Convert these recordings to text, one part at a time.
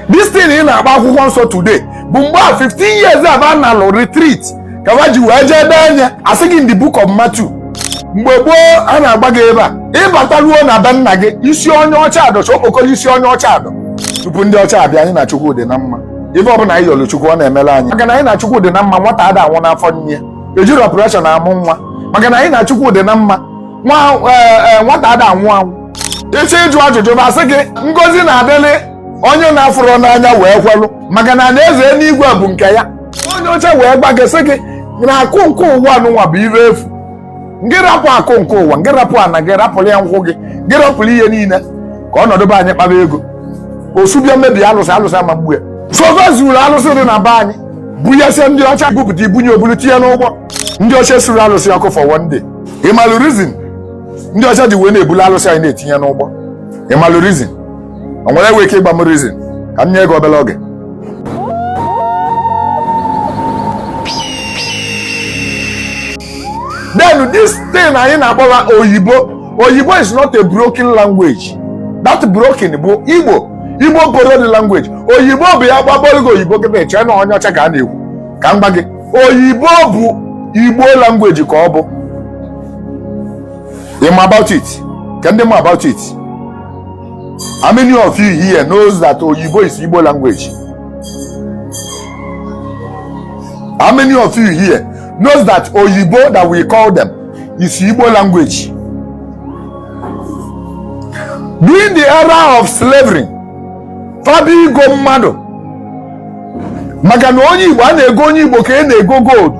this thing ị na-akpọ akwụkwọ nsọ today bụ mgbe a 15 years a ba nọlụ retreat ka ha ji wee jee dee anya asị gị in the book of Matthew mgbe gboo a na-agba gị ebe a ị bata ruo na be nna gị isi onye ọcha adọ chọọ okpokoro isi onye ọcha adọ tupu ndị ọcha abịa anyị na Chukwu dị na mma ife ọbụla anyị yọrọ Chukwu ọ na-emere anyị maka na anyị na Chukwu dị na mma nwata ada anwụ n'afọ nne ejirọ operation amụ nwa maka na anyị na Chukwu dị na mma nwa nwata ada anwụ anwụ ị chọọ ịjụ ajụjụ ba asị gị ngozi na-adịlị onye na-afụrọ n'anya wee kwelụ maka na alaeze eluigwe bụ nke ya onye ọcha wee gwa gị sị gị na akụ nke ụwa n'ụwa bụ ibe efu ngị rapụ akụ nke ụwa ngị rapụ ana gị rapụrụ ya nkwụ gị ngị rapụrụ ihe niile ka ọ nọdụ be anyị kpaba ego osubịa mmebi alụsị alụsị ama mgbu ya so fa zuru alụsị dị na be anyị bunyesịa ndị ọcha bupụta i bunye o bulu tinye n'ụgbọ ndị ọcha suru alụsị ọkụ for one day ị malụ reason ndị ọcha ji wee na-ebulu alụsị anyị na-etinye n'ụgbọ ị malụ reason o nwere enwe ike ịgba m reason ka m nye gị obere oge then this thing anyị na-akpọ wa oyibo oyibo is not a broken language that broken bụ igbo igbo borrowed language oyibo bụ ya ba kpọrọ gị oyibo gị na-eche na onye ọcha ka a na-ekwu ka m gwa gị oyibo bụ igbo language ka ọ bụ ịma about it ka ndị ma about it how many of you here knows that oyibo is igbo language how many of you here knows that oyibo that we call them is igbo language during the era of slavery fabigo mmadụ maka na onye igbo a na-ego onye igbo ka onye na-ego gold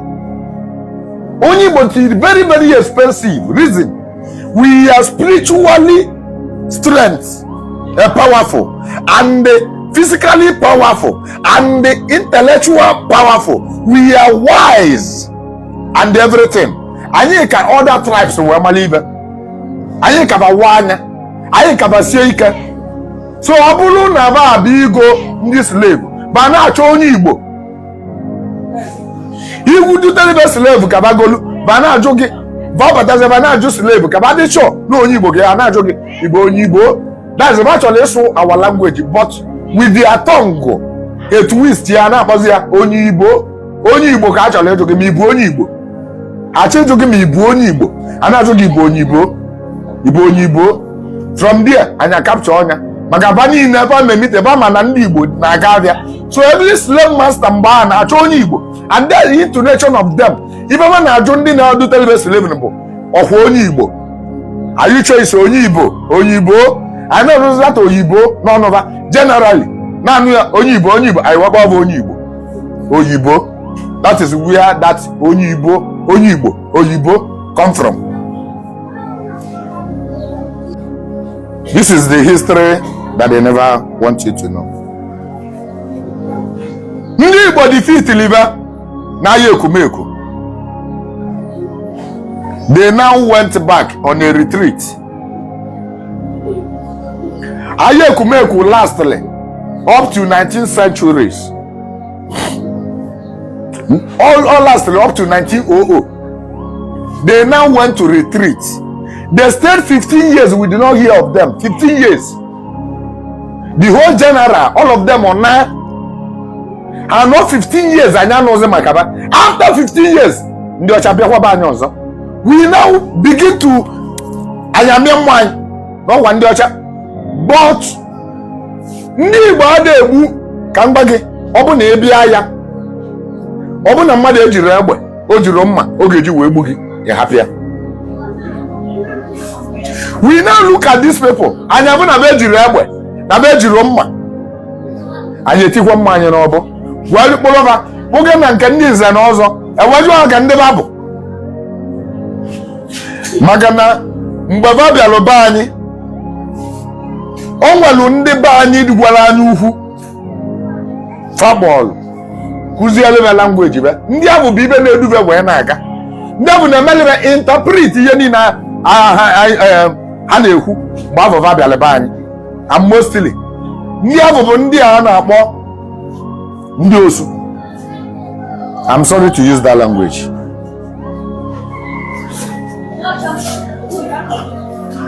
onye igbo dị very very expensive reason we are spiritually strength uh, powerful and physically powerful and intellectual powerful we are wise and everything anyị ka other tribes wee mara ibe anyị ka ba waa anya anyị ka ba sie ike so ọ bụrụ na ba abịa igo ndị slave ba na-achọ onye igbo iwu dutere ba slave ka ba golu ba na-ajụ gị ba batazi ba na-ajụ slave ka ba dị sure na onye igbo ga na-ajụ gị ị bụ onye igbo that's ba chọrọ ịsụ our language but with their tongue a twist ya na-akpọzi ya oyibo onye igbo ka a chọrọ ịjụ gị ma ị bụ onye igbo a chọ ịjụ gị ma ị bụ onye igbo a na-ajụ gị ị bụ onye igbo ị bụ onye igbo from there anyị a capture ọnya maka aba niile ebe a na-emite ebe ama na ndị igbo na-aga abịa so every slave master mgbe a na-achọ onye igbo and then the intonation of them ibe ba na-ajụ ndị na-edutere ba slave bụ ọkwa onye igbo are you sure it's onye igbo onye igbo anyị na-arụzilata oyibo n'ọnụ ba generally naanị ya onye igbo onye igbo anyị wakwa bụ onye igbo oyibo that is where that onye igbo onye igbo oyibo come from this is the history that they never want you to know ndị igbo defeatili ba n'aya ekumeku they now went back on a retreat aya ekumeku lastịlị up to 19 centuries ọ, ọ lastịlị up to 1900 they now went to retreat they stayed 15 years we did not hear of them 15 years the whole general all of them anaa anọ 15 years anyị anụzi maka ba after 15 years ndị ọcha bịakwa be anyị ọzọ we now begin to anyị amịa mma anyị na ọ kwa ndị ọcha but ndị Igbo ada egbu ka m gwa gị ọ bụ na ị bịa aya ọ bụ na mmadụ ejiri egbe o jiri mma ọ ga-eji wee gbu gị ya hapụ ya we now look at these people anyị abụ na be ejiri egbe na be ejiri mma anyị etikwa mma anyị n'ọbọ wee kpụrụ ba kpụga na nke ndị nze na ọzọ e wee jụọ ha ka ndị ba bụ maka na mgbe ba bịara be anyị o nwere ndị be anyị nwere anya ukwu fa kpọọlụ kụziere be language be ndị ahụ bụ ibe na-edu be wee na-aga ndị ahụ na-emeli be interpret ihe niile eh, ha na-ekwu mgbe ahụ ba bịara be anyị and mostly ndị ahụ bụ ndị a na-akpọ ndị osu I'm sorry to use that language.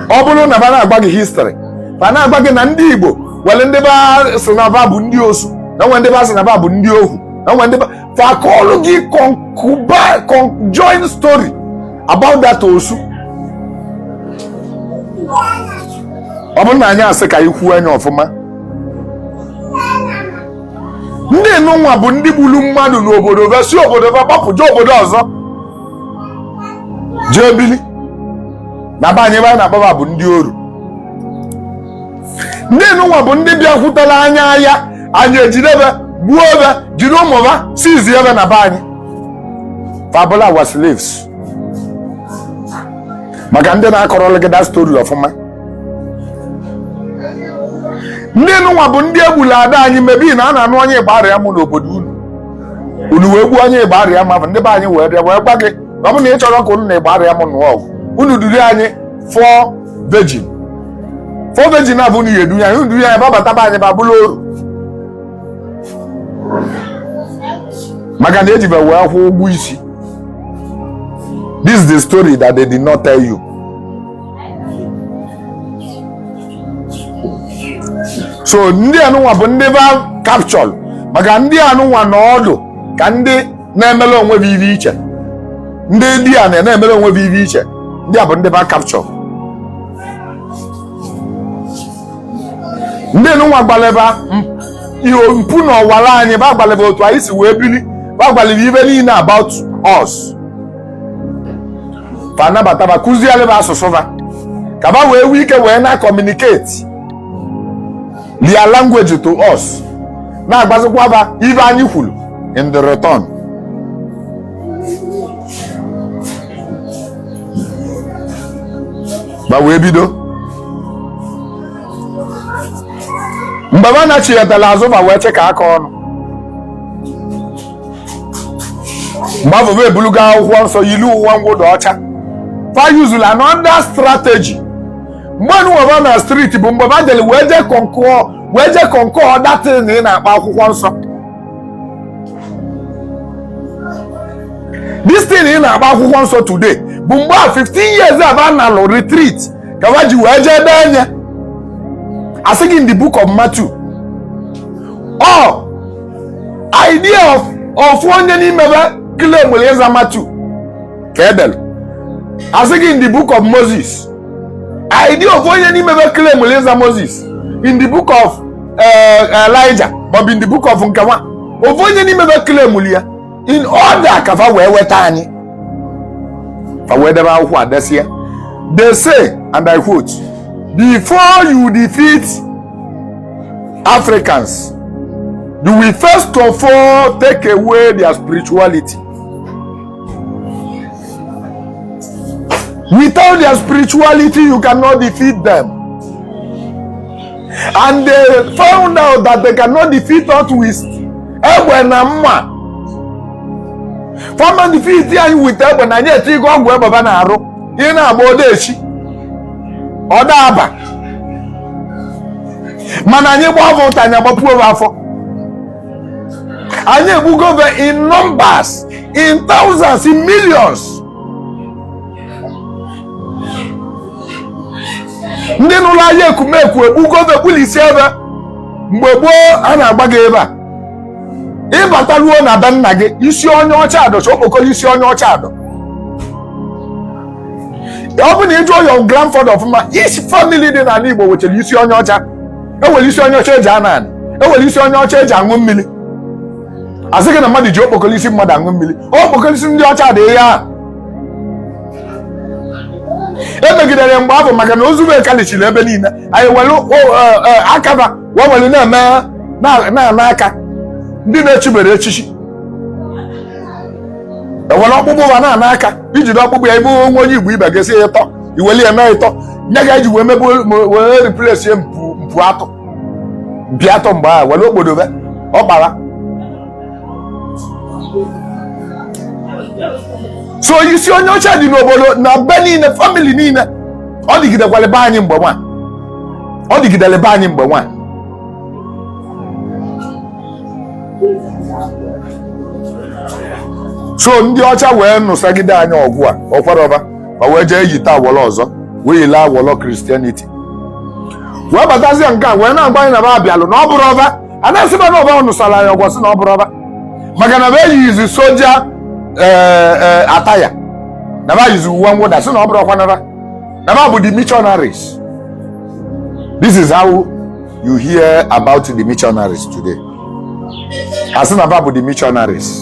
ọ bụrụ na ba na-agwa gị history ba na-agwa gị na ndị Igbo nwere ndị ba sị na ba bụ ndị osu na e nwe ndị ba sị na ba bụ ndị ohu na e nwe ndị ba fa akọlụ gị conjoin story about that osu ọ bụrụ na anyị asị ka anyị kwuo nya ọfụma ndị nụnwa bụ ndị gburu mmadụ n'obodo be si obodo be gbapụ jee obodo ọzọ jee bili na be anyị ibe anyị na-akpọ ba bụ ndị oru ndị nụnwa bụ ndị bịakwutelu anyị aya anyị ejide be gbuo be jide ụmụ ba seizie be na be anyị fa abụlụ war slaves maka ndị na-akọrọla gị that story ọfụma ndị nụnwa bụ ndị egbula ada anyị maybe na a na-anụ onye Igbariam n'obodo unu unu wee gbuo onye Igbariam a bụ ndị be anyị wee bịa wee gwa gị na ọ bụ na ị chọrọ ka unu na Igbariam nụọ ọgụ unu duru anyị four virgin four virgin a bụ unu ga-edu ya unu duru ya ba bata be anyị ba bụlụ oru maka na e ji be wee kwụọ ụgwọ isi this is the story that they did not tell you so ndị anụnwa bụ ndị ba capture maka ndị anụnwa na ọ dị ka ndị na-emere onwe be ive iche ndị di a na-emere onwe be ive iche ndị a bụ ndị ba capture ndị anụnwa gbalị ba ihe mpu na ọwara anyị ba gbalị ba otu anyị si wee bili ba gbalị ba ive niile about us fa nabata ba kụziere ba asụsụ ba ka ba wee nwee ike wee na-communicate their language to us na-agbazikwa ba ive anyị kwuru in the return ba wee bido mgbe ba nachiyetara azụ ba wee chịkọ aka ọnụ mgbe ebulugo akwụkwọ nsọ yiri uwe mwụda ọcha fa yuzulu another strategy mgbe nụwa ba na street bụ mgbe ba jere wee jee concoct wee jee concoct that thing a ị na-akpọ akwụkwọ nsọ this thing ị na-akpọ akwụkwọ nsọ today bụ mgbe a 15 years a ba nalụ retreat ka ba ji wee jee denye a sị gị in the book of Matthew ọ idea of ofu onye n'ime be claimụlụ ịza matthew ka e dere a sị gị in the book of moses idea ofu onye n'ime be claimụlụ ịza moses in the book of eh, elijah ma ọ bụ in the book of nkewa ofu onye n'ime be claimụlụ ya in order ka fa wee weta anyị fa wee debe akwụkwọ adesie they say and i quote before you defeat africans you will first of all take away their spirituality without their spirituality you cannot defeat them and they found out that they cannot defeat us with egbe na mma fa ama defeat anyị with egbe na anyị etego ọgwụ egbe ba na-arụ ị na-agba odechi ọ da aba mana anyị gbaa be ụta anyị agbapuo be afọ anyị egbugo be in numbers in thousands in millions ndị nụlụ aya ekumeku egbugo ofe kpụlụ isi ebe mgbe gboo a na-agba gị ebe a ịbata ruo na be nna gị isi onye ọcha adọ okpokoro isi onye ọcha adọ ọ bụ na ịjụọ your grandfather ọfụma each family dị n'ala Igbo nwechara isi onye ọcha enwere isi onye ọcha eji ana anị enwere isi onye ọcha eji aṅụ mmiri asị gị na mmadụ ji okpokoro isi mmadụ aṅụ mmiri okpokoro isi ndị ọcha dị ihe ahụ emegidere ya mgbe ahụ maka na ozu ba kalichiri ebe niile anyị were e, e, aka ba wee were na-eme na-ana aka ndị na-echibere echichi ewere ọkpụkpụ ba na-ana aka ijide ọkpụkpụ ya ibe nwa onye igbo ibe ga-esi ya ịtọ iweli ya mee ịtọ nye ga eji wee mebe wee replace ya mpu atọ bịa atọ mgbe ahụ were obodo be ọ gbara so isi onye ọcha dị n'obodo na be niile family niile ọ dịgidekwara be anyị mgbe nwa ọ dịgidere be anyị mgbe nwa so ndị ọcha wee nụsagide anyị ọgụ a o kwerọ ba ba wee jee yite awọrọ ọzọ wee yile awọrọ christianity wee batazie nke a wee na-agwa anyị na ba abịalụ na ọ bụrọ ba a na-asị ba na ọ ba nụsara ya ọgụ ọ sị na ọ bụrọ ba maka na ba eyizi soja ee, ee, attire na ba yizi uwe mwụda sị na ọ bụrọkwa nara na ba bụ the missionaries this is how you hear about the missionaries today asị na ba bụ the missionaries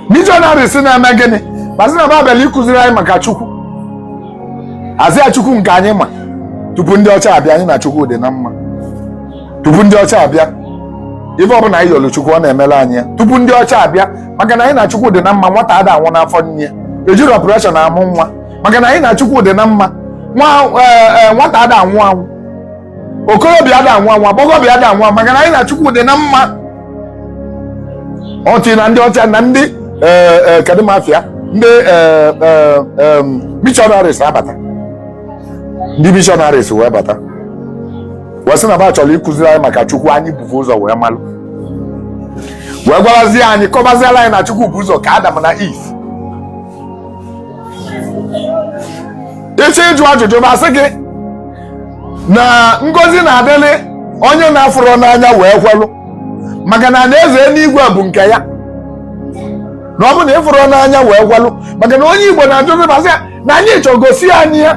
missionaries na-eme gịnị ba sị na ba bịara ịkụziri anyị maka chukwu asị ya chukwu nke anyị ma tupu ndị ọcha abịa anyị na chukwu dị na mma tupu ndị ọcha abịa ife ọbụla anyị yọlụ chukwu ọ na-emere anyị ya tupu ndị ọcha abịa maka na anyị na chukwu dị na mma nwata ada anwụ n'afọ nne ejirọ operation amụ nwa maka na anyị na chukwu dị na mma nwata ada anwụ anwụ okorobịa ada anwụ anwụ agbọghọbịa ada anwụ maka na anyị na chukwu dị na mma until na ndị ọcha na ndị eh, eh, kedụ ma afa ya ndị eh, eh, em, missionaries abata ndị missionaries wee bata wee sị na ba chọrọ ịkụziri anyị maka chukwu anyị buvu ụzọ wee malụ wee gwarazie anyị kọbaziela anyị na chukwu bu ụzọ kee adam na eve ịchọ ịjụ ajụjụ ba sị gị na ngozi na-adịlị onye na-afụrọ n'anya wee kwelụ maka na alaeze enuigwe bụ nke ya na ọ bụ na ịfụrọ n'anya wee kwelụ maka na onye igbo na-ajụzi ba sị ya na anyị chọrọ gosi anyị ya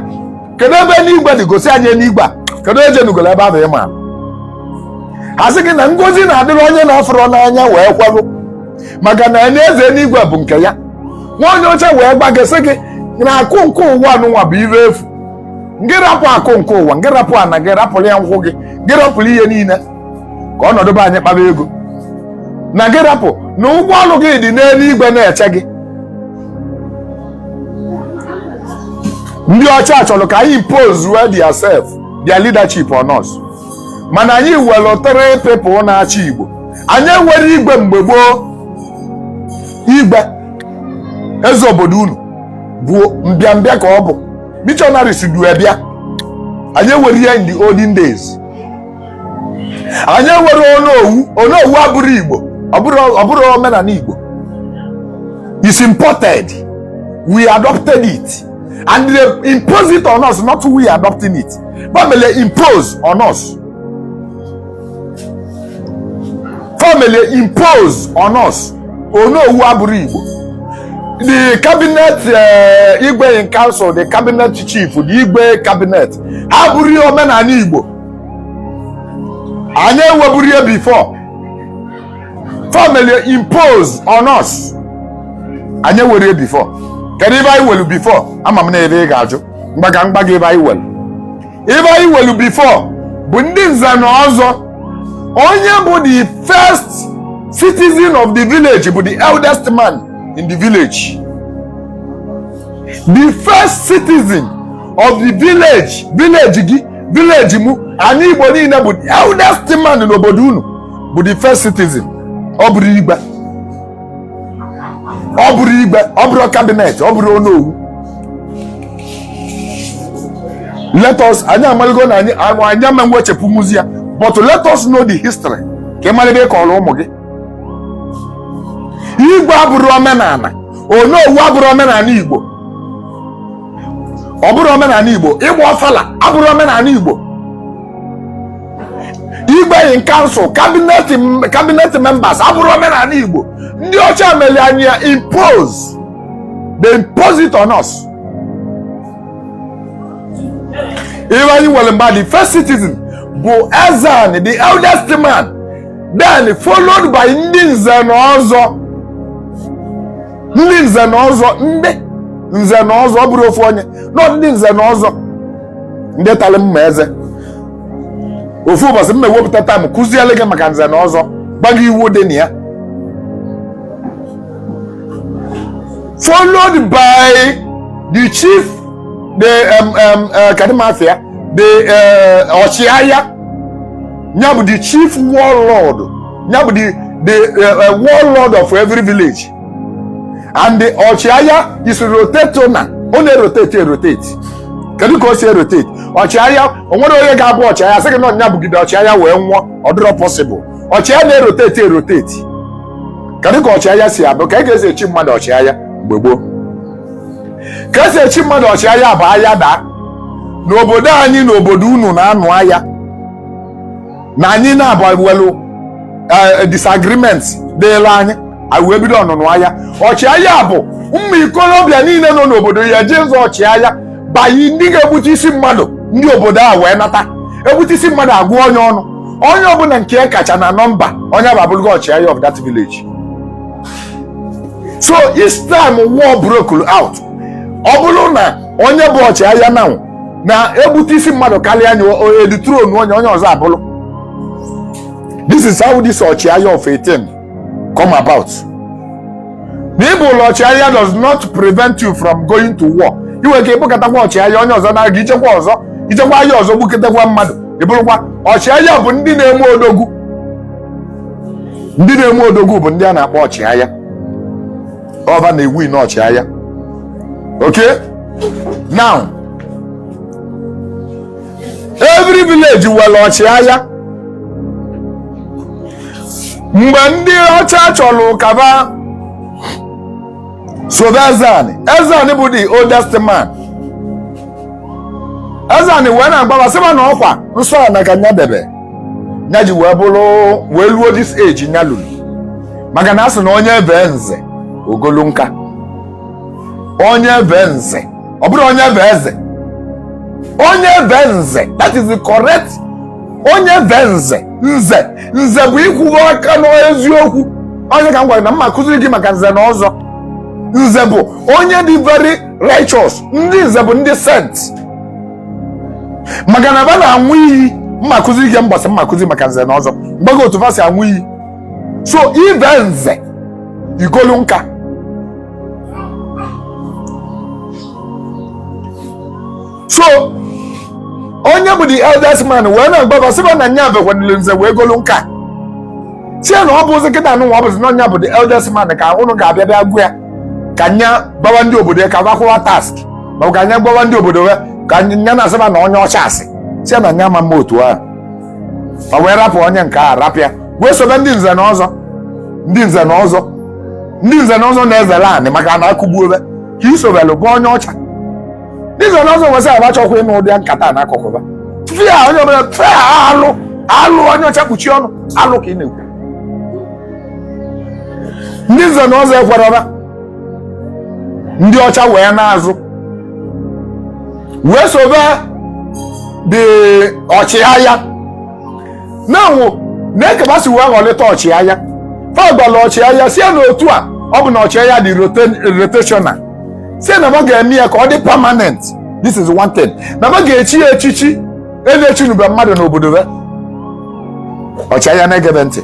kedu ebe enuigwe dị gosi anyị enuigwe a kedu ejenugolo ebe ahụ ị maara a sị gị na ngozi na-adịrị onye na-afụrọ n'anya wee kwelụ maka na alaeze enuigwe bụ nke ya nwa onye ọcha wee gwa gị sị gị na akụ nke ụwa nụnwa bụ ife efu ngị rapụ akụ nke ụwa ngị rapụ ana gị rapụrụ ya nkwụ gị gị rapụrụ ihe niile ka ọ nọdụ be anyị kpaa ego na gị rapụ na ụgwọ ọrụ gị dị n'elu igwe na-eche gị ndị ọcha chọrọ ka anyị impose their self their leadership on us mana anyị nwere three people na-achị Igbo anyị enwerọ igwe mgbe gboo igwe eze obodo unu bụ mbịambịa ka ọ bụ missionaries du ya bịa anyị enwerọ ya in the olden days anyị enwerọ onowu onowu abụrọ Igbo ọ bụrọ omenala Igbo it's imported we adopted it and they impose it on us not we adopting it fa melu ya impose on us fa melu ya impose on us onowu abụrọ igbo the cabinet uh, igwe in council the cabinet chief the igwe cabinet ha abụrọ omenala igbo anyị enweburọ ya before fa melu ya impose on us anyị enwerọ ya before kedu ife anyị nwelu before ama m na ife ị ga-ajụ m gwa gị m gwa gị ife anyị nwelu ife anyị nwelu before bụ ndị nze na ọzọ onye bụ the first citizen of the village bụ the eldest man in the village the first citizen of the village village gị village mụ anị igbo niile bụ the eldest man n'obodo unu bụ the first citizen ọ bụrọ igwe ọ bụrọ igwe ọ bụrọ cabinet ọ bụrọ onowu let us anyị amaligo na anyị anụ anyị ama ewechapụnwuzi ya but let us know the history ka ị mara ife ị kọrọ ụmụ gị igwe abụrọ omenala onowu abụrọ omenala igbo ọ bụrọ omenala igbo ịgba ọfala abụrọ omenala igbo igwe in council cabinet members abụrọ omenala igbo ndị ọcha mere anyị ya impose they impose it on us ife anyị nwere mbụ the first citizen bụ ezeana the eldest man then followed by ndị nze na ọzọ ndị nze na ọzọ ndị nze na ọzọ ọ bụrọ ofu onye no ndị nze na ọzọ ndị talị mma eze ofu ụbọchị m ewepụta time kụziele gị maka nze na ọzọ gwa gị iwu dị na ya followed by the chief the um, um, uh, kadimafia the uh, ọchịagha ya bụ the chief warlord nya bụ the the uh, uh, warlord of every village and the ọchịagha is rotate na ọ na-erotate erotate kedu ka o si erotate ọchịagha o nwere onye ga-abụ ọchịagha sị gị na nya bụgide ọchịagha wee nwụọ ọ dịrọ possible ọchịagha na-erotate erotate kedu ka ọchịagha si abụ ka e ga-esi echi mmadụ ọchịagha mgbe gboo ka esi echi mmadụ ọchịagha bụ aya daa n'obodo anyị na obodo unu na-anụ aya na anyị na ba nwelu eh, disagreement dịla anyị anyị wee bido ọnụnụ aya ọchịagha bụ ụmụ ikolobịa niile nọ n'obodo ya-eje nzọ ọchịagha by ndị ga-egbute isi mmadụ ndị obodo a wee nata egbute isi mmadụ a gụọ nya ọnụ onye ọbụla nke e kacha na nọmba onye ahụ abụlụgo ọchịagha of that village so each time war broke out ọ bụrụ na onye bụ ọchịagha na na-egbute isi mmadụ kalịa nya e dethrone nya onye ọzọ abụrụ this is how this ọchịagha of a thing come about na ị bụlụ ọchịagha does not prevent you from going to war ị nwere ike ịbụkatakwa ọchịagha onye ọzọ naa gị i jekwa ọzọ i jekwa aya ọzọ gbuketakwa mmadụ ị bụrụkwa ọchịagha bụ ndị na-eme odogwu ndị na-eme odogwu bụ ndị a na-akpọ ọchịagha ọ ba na-ewin ọchịagha okay now every village nwere ọchịagha mgbe ndị ọcha chọrọ ka ba sobe ezani ezani bụ the oldest man ezani wee na-agwa ba sị ba na ọkwa nsọ ana ka nya debe nya ji wee bụrụ wee luo this age nya lulu maka na a sị na onye vee nze o golu nka onye vee nze ọ bụrọ onye vee eze onye vee nze that is the correct onye vee nze nze nze bụ ịkwụwa aka n'eziokwu ọ nya ka m gwara na m ma-akụziri gị maka nze na ọzọ nze bụ onye dị very righteous ndị nze bụ ndị saint maka na ba na-anwụ iyi m ma-akụziri gị mbọsị m ma-akụzi maka nze na ọzọ m gwa gị otu fa si anwụ iyi so i vee nze i golu nka so onye bụ the eldest man wee na-agwa ba sị ba na nya bekwanile nze wee golu nka sị na ọ bụzi kịta nụnwa ọ bụzi na nya bụ the eldest man ka ụnụ ga-abịa bịa gwa ya ka nya gwawa ndị obodo ya ka ba kwụwa tax ma ọ bụ ka nya gwawa ndị obodo ya ka nya na-asịba na onye ọcha asị si na nya ama mme otu ahụ ma wee rapụ onye nke a rapụ ya wee sobe ndị nze na ọzọ ndị nze na ọzọ ndị nze na ọzọ na-ezere anị maka na akụgbuo ebe ka isobelụ bụ onye ọcha ndị nze na ọzọ nwesị abachọkwa ịnụ ụdị nkata n'akụkụ ba fia onye ọbụla fia alụ alụ onye ọcha kpuchie ọnụ alụ ka ị na-ekwu ndị nze na ọzọ ekwerọ ba ndị ọcha wee naa azụ wee sobe ndị ọchịagha na-anwụ n'eke ba si wee ghọlịta ọchịagha fa gwara ọchịagha sie na otu a ọ bụ na ọchịagha dị rotational sie na ma ga-eme ya ka ọ dị permanent this is one thing na ma ga-echi ya echichi e na-echinube mmadụ n'obodo be ọchịagha na-egebe ntị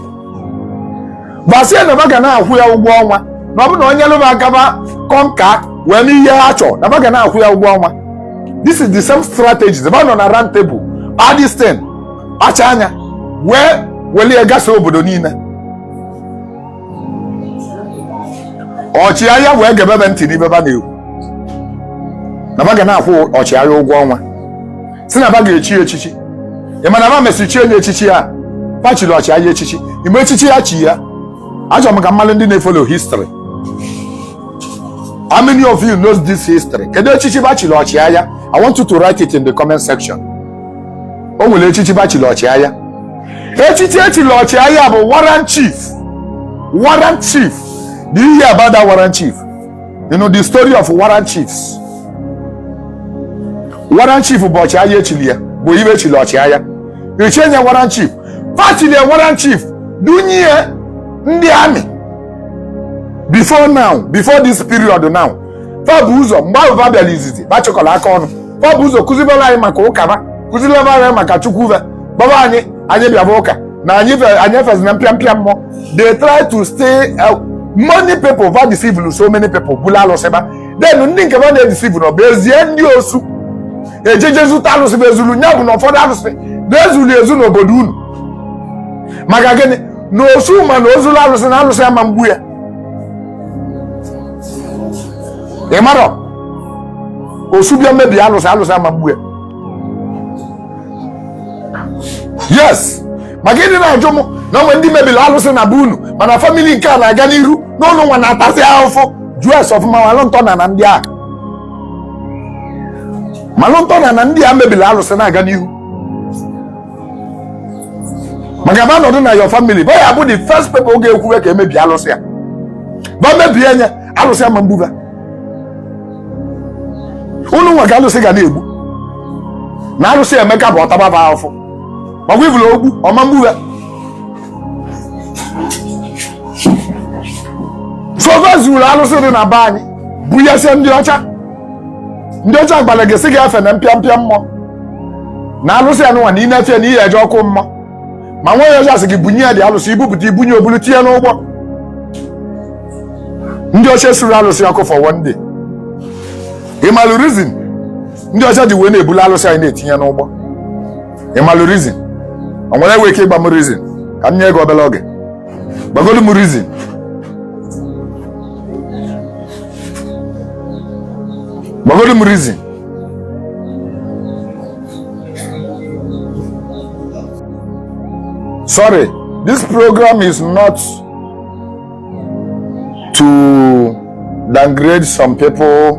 ba sie na ba ga na-akwụ ya ụgwọ ọnwa na ọ bụ na o nyelu ba aka ba conquer wee mee ihe ha chọrọ na ba ga na-akwụ ya ụgwọ ọnwa this is the same strategy ba nọ na round table adistin kpacha anya wee welie gasa obodo niile ọchịagha wee gebebe ntị n'ibe ba na-ekwu na ba ga na-akwụ ọchịagha ụgwọ ọnwa si na ba ga-echi ya echichi ị ma na ba mesịrị chie nya echichi ya ba chiri ọchịagha echichi ị ma echichi ya chi ya achọrọ m ka m malụ ndị na-efollow history how many of you knows this history kedu echichi ba chiri ọchịagha i want you to write it in the comment section o nwere echichi ba chiri ọchịagha echichi e chiri ọchịagha bụ warrant chief warrant chief do you hear about that warrant chief you know the story of warrant chiefs warrant chief bụ ọchịagha e chili ya bụ ibe e chili ọchịagha e chie nya warrant chief fa chili ya warrant chief dunye ya ndị army before now before this period now fa bu ụzọ mgbe ahụ fa bịara izizi fa chịkọrọ aka ọnụ fa bu ụzọ kụzibere anyị maka ụka ba kụzilebe anyị maka chukwu va gwaba anyị anyị bịaba ụka na anyị anyị efezina mpịampịa mmụọ they try to stay uh, many people va deceive so many people buru alụsị ba then ndị nke va na-edeceive nọ va ezie ndị osu ejeje zuta alụsị bụ e zulu nya bụ na ụfọdụ alụsị na e zulu ezu n'obodo unu maka gịnị na osu ma na o zulu alụsị na alụsị ama mgbu ya ị marọ osu bịa mebie alụsị alụsị ama mgbu ya yes maka ị dị na-ajụ m na o nwe ndị mebiri alụsị na be unu mana famili nke a na-aga n'iru unu nwa na-atasị ahụfụ jụọ ese ọfụma malụ ntọ na na ndị a malụ ntọ na na ndị a mebiri alụsị na-aga n'ihu maka ba nọdụ na your family ba ya-abụ the first people oge e kwuwe ka e mebie alụsị ya ba mebie nye alụsị ama egbu ba unu nwa ka alụsị ga na-egbu na alụsị emeka bụ ọ taba ba afụfụ ma ibulu ogbu ọ ma egbu ha so va zuru alụsị dị na be anyị bunyesịa ndị ọcha ndị ọcha gbara gị sị gị efena mpịa mpịa mmụọ na alụsị anụnwa na ị na-efe na ị ya-eje ọkụ mmụọ ma nwa onye ọcha asị gị bunye ya the alụsị i bupụta i bunye o bulu tinye n'ụgbọ ndị ọcha suru alụsị ọkụ for one day ị malụ reason ndị ọcha ji wee na-ebulu alụsị anyị na-etinye n'ụgbọ ị malụ reason o nwere onye nwe ike ịgba m reason ka m nye gị obere oge gbagodu m reason gbagodu m reason Sorry, this program is not to downgrade some people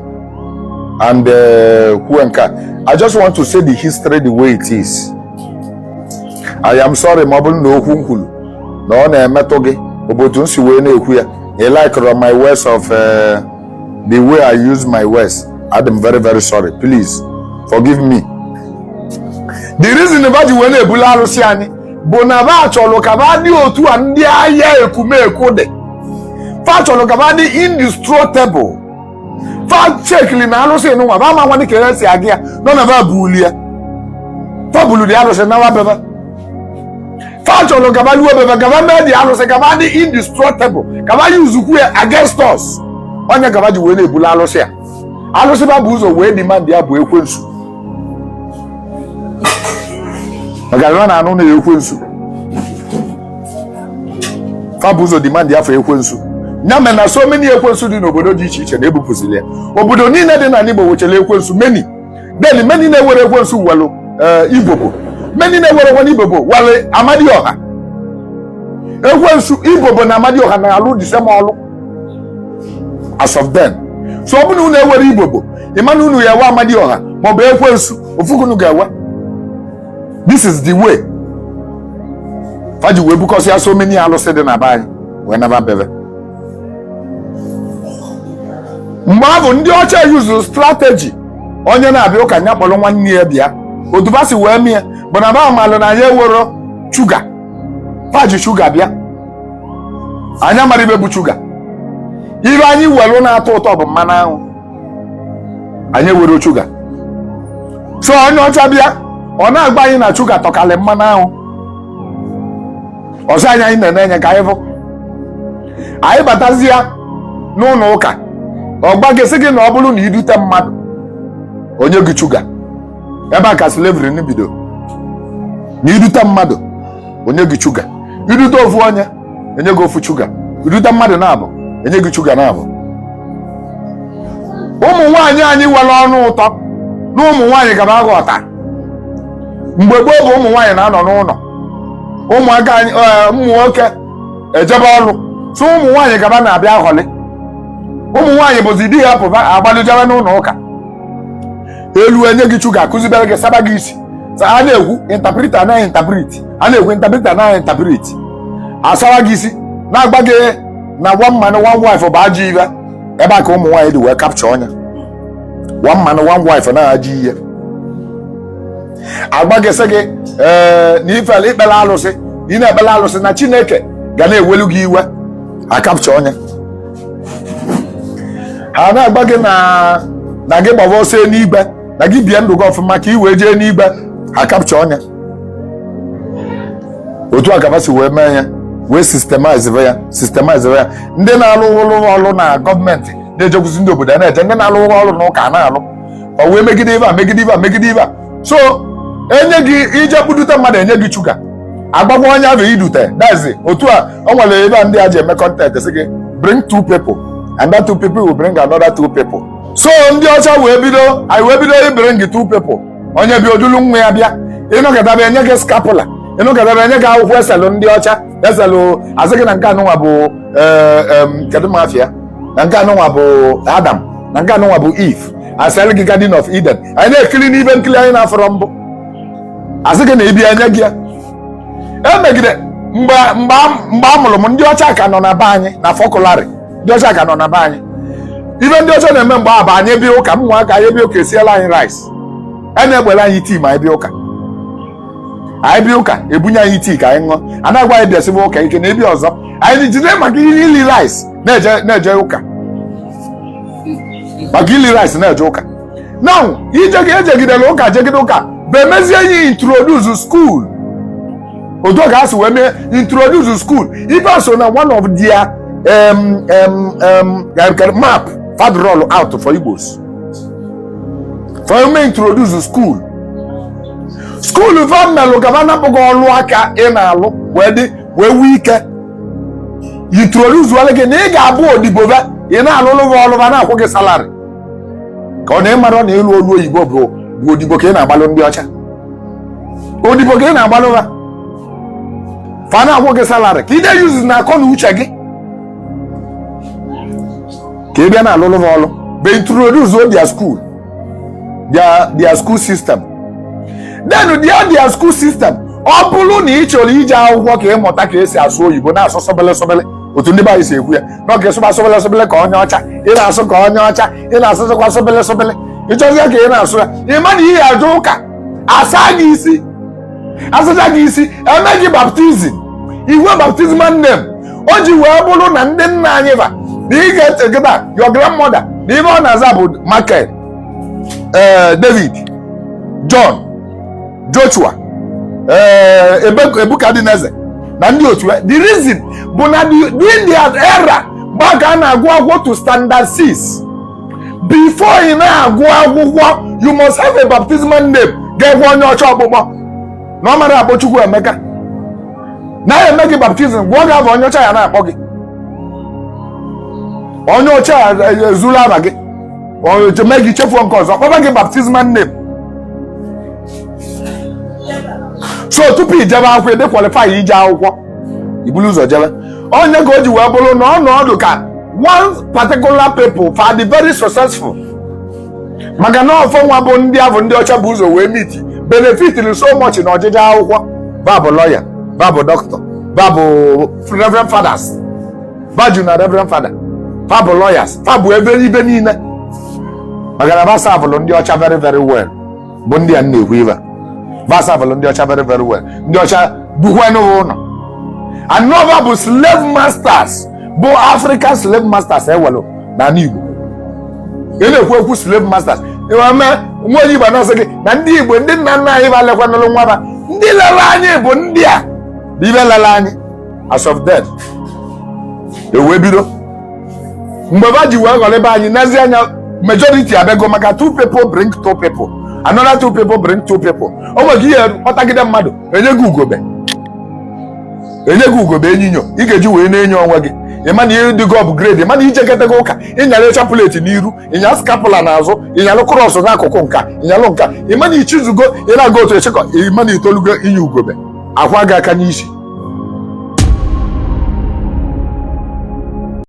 and uh, who and can. I just want to say the history the way it is. I am sorry ma ọ bụrụ na okwu m kwuru na ọ na-emetụ gị ọ bụ otu m si wee na-ekwu ya ị likerọ my words of uh, the way I use my words adị m very very sorry please forgive me the reason ba ji wee na-ebulu arụsị anyị bụ na ba chọrọ ka ba dị otu a ndị aya Ekumeku dị fa chọrọ ka ba dị indestructible fa chekili na arụsị nwa ba ma nwa dịka e si aga ya nọ na ba bulu ya fa bulu the arụsị nawa be ba fa chọrọ ka ba luo be ba ka ba mee the alụsị ka ba dị indestructible ka ba usekwu ya against us ọ ya ka ba ji wee na-ebulu alụsị ya alụsị ba bu ụzọ wee demand ya bụ ekwensu maka na ọ na-anụ aya ekwensu fa bu ụzọ demand ya for ekwensu ya mere na so many ekwensu dị n'obodo dị iche iche na ebupụzili ya obodo niile dị n'ala Igbo nwechara ekwensu many then many na-enwerọ ekwensu nwelu eh, ibobo many na-enwerọ ekwensu ibobo nwelu amadioha ekwensu ibobo na amadioha na-alụ the same ọlụ as of then so ọ bụrụ na unu enwerọ ibobo ị ma na unu ya-enwe amadioha maọbụ ekwensu ofu ka unu ga-enwe this is the way fa ji wee bukọsịa so many alụsị dị na be anyị wee naba be ba mgbe ahụ ndị ọcha yuzuru strategy onye na-abịa ụka nya kpọrọ nwanne ya bịa otu ba si wee mie bụ na ba malụ na anyị ewero shuga ba ji shuga bịa anyị amarọ ibe bụ shuga ibe anyị welu na-atọ ụtọ bụ mmanụ aṅụ anyị ewero shuga so onye ọcha bịa ọ na-agwa anyị na shuga tọkalị mmanụ aṅụ ọzọ anyị anyị na-ene anya ka anyị fụ anyị batazia n'ụlọ ụka ọ gwa gị sị gị na ọ bụrụ na i dute mmadụ o nye gị shuga ebe a ka slavery nọ bido na i dute mmadụ o nye gị shuga i dute ofu onye enye gị ofu shuga i dute mmadụ naabọ enye gị shuga naabọ ụmụ nwaanyị anyị nwere ọnụ ụtọ na ụmụ nwaanyị ka ba na-aghọta mgbe gboo bụ ụmụ nwaanyị na-anọ n'ụlọ ụmụaka anyị eh, ụmụ nwoke ejebe ọrụ so ụmụ nwaanyị ka ba na-abịa aghọlị ụmụ nwaanyị bụzi di ya pụba agbalụ jebe n'ụlọ ụka elu enye gị shuga akụzibere gị saba gị isi a na-ekwu interpreter na-interpret a na-ekwu interpreter na-interpret asawa gị isi na-agwa gị na one man one wife bụ ajọ ibe ebe a ka ụmụ nwaanyị dị wee capture nya one man one wife na ajọ ihe a gwa gị sị gị ee na i fele i kpere alụsị na ị na-ekpere alụsị na chineke ga na-ewelu gị iwe a capture nya a na-agwa gị na na gị gbaba ọsọ n'igwe na gị bie ndụ gị ọfụma ka ị wee jee n'igwe a capture nya otu a ka ba si wee mee ya wee systemize ya systemize ya ndị na-alụ ọrụ na gọọmenti na-ejekwuzi ndị obodo a na-eje ndị na-alụ ọrụ na ụka a na-alụ ọ wee megide ibe a megide ibe a megide ibe a so enye gị i je kpụdute mmadụ enye gị shuga a gwakwa onye ahụ i dute that is otu a o nwere ebe a ndị a ji eme content sị gị bring two people and that two people will bring another two people so ndị ọcha wee bido anyị wee bido ibring two people onye bi o dulu nwa ya bịa ị nọkọtaba enye gị scapular ị nọkọtaba enye gị akwụkwọ eselụ ndị ọcha eselụ asị gị na nke anụnwa bụ eh, kedu ma afa ya na nke anụnwa bụ adam na nke anụnwa bụ eve asịrị gị garden of eden anyị na-ekiri n'ibe nkiri anyị na-afụrọ mbụ asị gị na ibi anya gị ya emegide mgbe a mụrụ m ndị ọcha ka nọ na be anyị na fọkụlarị ndị ọcha ka nọ na be anyị ibe ndị ọcha na-eme mgbe a bụ anyị bịa ụka ụmụaka anyị bịa ụka esielụ anyị rice a e na-egbere anyị tii ma anyị bịa ụka anyị bịa ụka ebunye anyị tii ka anyị ṅụọ a na-agwa anyị bịasịba ụka ike na ebi ọzọ anyị jide maka ihe ili rice na-eje na-eje ụka maka ili rice na-eje ụka now ijegị ejegidela ụka jegide ụka bụ emezie ya introduce school otu a ka e si wee mee introduce school ife a so na one of their um, um, um, like, map fa roll out for Igbos fa eme introduce school school fa melụ ka ba napụ gị ọlụ aka ị na-alụ wee dị wee nwee ike introduce-ụọla gị na ị ga-abụ odibo be ị na-alụlụ gị ọlụ ba na-akwụ gị salary ka ọ na ịmara na ịlụ ọlụ oyibo bụ bụ odibo ka ị na-agbalụ ndị ọcha odibo ka ị na-agbalụ ha fa na-akwụ gị salary ka ị na-eyuzi na akọ na uche gị ka ị bịa na-alụlụ gị ọlụ ba e introduce their school their their school system then their their school system ọ bụrụ na ị chọrọ ije akwụkwọ ka ịmụta ka esi asụ oyibo na-asụ supili supili otu ndị be anyị si ekwu ya na ọ ka ị sụba supili supili ka onye ọcha ị na-asụ ka onye ọcha ị na-asụsịkwa supili supili ịchọzie ka ị na-asụ ya ị ma na ị ya-eje ụka asa gị isi asacha gị isi eme gị baptism i nwee baptismal name o ji wee bụrụ na ndị nna anyị ba na ị ga-etegịta your grandmother na ibe ọ na-aza bụ Michael eh, David John Joshua eh, Nebuchadnezzar na ndị otu eh, the reason bụ na during their era mgbe a ka a na-agụ akwụkwọ to standard 6 before ị na-agụ akwụkwọ you must have a baptismal name ga-ekwe onye ọcha ọkpụkpọ na ọ marọ akpọ Chukwuemeka na ya eme gị baptism gụọ gị afa onye ọcha ya na-akpọ gị onye ọcha ya ezuru afa gị ojeme gị chefuo nke ọzọ kpọba gị baptismal name so tupu ijebe akwụkwọ ị dị qualified ije akwụkwọ i bulu ụzọ jebe ụnọ ụka o ji wee bụrụ na ọ na-adị ka one particular people fa dị very successful maka na ọ fa nwa bụ ndị ahụ ndị ọcha bu ụzọ wee meet benefitiri so much na ọjịje akwụkwọ ba bụ lawyer ba bụ doctor ba bụ reverend fathers ba ju na reverend father fa bụ lawyers fa bụ ebe ibe niile maka na ba serve-ụlụ ndị ọcha very very well bụ ndị a na-ekwu ibe ba serve-ụlụ ndị ọcha very very well ndị ọcha dukwa n'ụwa ụlọ na ọ ba bụ slave masters bụ African slave masters e nwelụ na ala Igbo ị na-ekwu ekwu slave masters e nwee nwa onye Igbo na-asị gị na ndị Igbo ndị nna nna anyị ba lekwanụlụ nwa ba ndị lere anyị bụ ndị a bụ ibe lere anyị as of then ewee bido mgbe ba ji wee ghọrọ ebe anyị n'ezi anya majority abịago maka two people bring two people another two people bring two people o nwere ka ihe kpọtagide mmadụ enye gị ugobe enye gị ugobe enyinyo ị ga-eji wee na-enyo onwe gị ịma na ihe dịgo upgrade ịma na ijekọtago ụka ịnyara chapụleti n'iru ịnya skapụla n'azụ ịnyalụ krọs n'akụkụ nka ịnyalụ nka ịma na ichizugo ị na-aga otu echekọ ịma na itolugo inye ugobe akwa gị aka n'isi